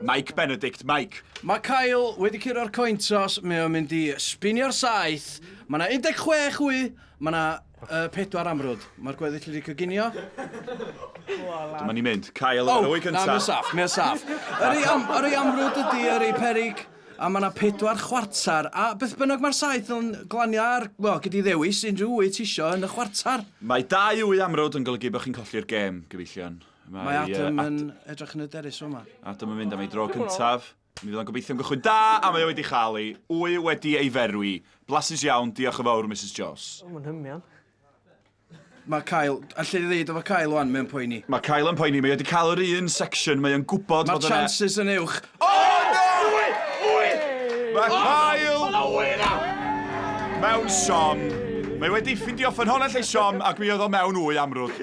Mike Benedict, Mike! Mae Kyle wedi curo'r cointos, mae o'n mynd i spinio'r saeth. Mae 'na 16 wy, mae 'na uh, pedwar amrwd. Mae'r gweddill wedi coginio. Dyma ni mynd. Kyle oh, ar y wy cyntaf. Na, mae'n saff, mae'n saff. Yr ei, am, yr ei amrwd ydy, yr ei perig, a mae yna pedwar chwarter, a beth bynnag mae'r saith yn glanio ar, wel, gyda ddewis unrhyw wyt isio yn y chwarter. Mae dau wy amrwd yn golygu bod chi'n colli'r gêm, gyfeillion. Mae Adam yn edrych yn hyderus yma. Adam yn mynd am ei dro cyntaf. Mi fydd o'n gobeithio am gychwyn da, a mae o wedi chael ei wy wedi ei ferwi. Blasus iawn, diolch yn fawr, Mrs Joss. O, mae'n hymian. Mae Kyle, allu ni ddeud efo Kyle wan, mae'n poeni. Mae Kyle yn poeni, mae wedi cael yr un section, mae o'n gwybod Mae'r chances yn uwch. O, no! Wy! Wy! Mae Kyle... Mae na wy na! Mewn siom. Mae wedi ffindio ffynhonnell ei siom ac mi oedd o mewn wy amrwd.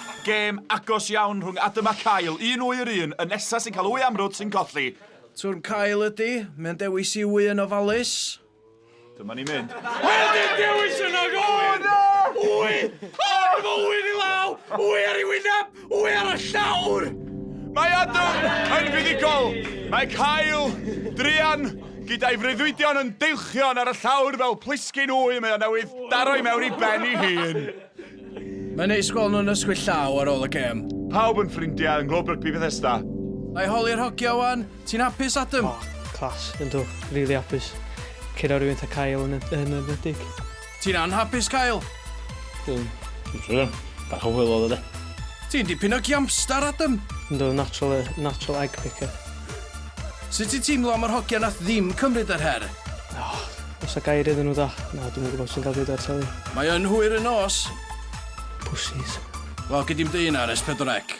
Gêm agos iawn rhwng Adam a Kyle, un wy yr un, y nesa sy'n cael wy amrwd sy'n colli. Twrn Kyle ydi, mae'n dewis i wy yn ofalus. Dyma ni'n mynd. Wel dim dewis yna gofyn! Wy! O, dyma wy ni law! Wy ar ei wyneb! Wy ar y llawr! Mae Adam yn fuddugol! Mae Kyle, druan, gyda'i freuddwydion yn deilchion ar y llawr fel plisgyn wy mae o newydd daro i mewn i ben ei hun. Mae'n neis gweld nhw'n ysgwyd llaw ar ôl y gêm. Pawb yn ffrindiau yng Nghlwb Rygbi Bethesda. Mae holi'r hogia wan. Ti'n hapus, Adam? O, clas, yndw, rili hapus. Cyrra rhywun ta Kyle yn y nedig. Ti'n anhapus, Kyle? Dwi'n siŵr, bach o hwyl oedd o de. Ti'n dipyn o giamstar, Adam. Yndw, natural, natural egg picker. Sut ti'n teimlo am yr hogia nath ddim cymryd yr her? Oh, Os a gair iddyn nhw da. Na, dwi'm yn gwybod sy'n cael bwyd ar teli. Mae yn hwyr y nos. Pussies. Wel, gei di'm deud hynna ar S4C.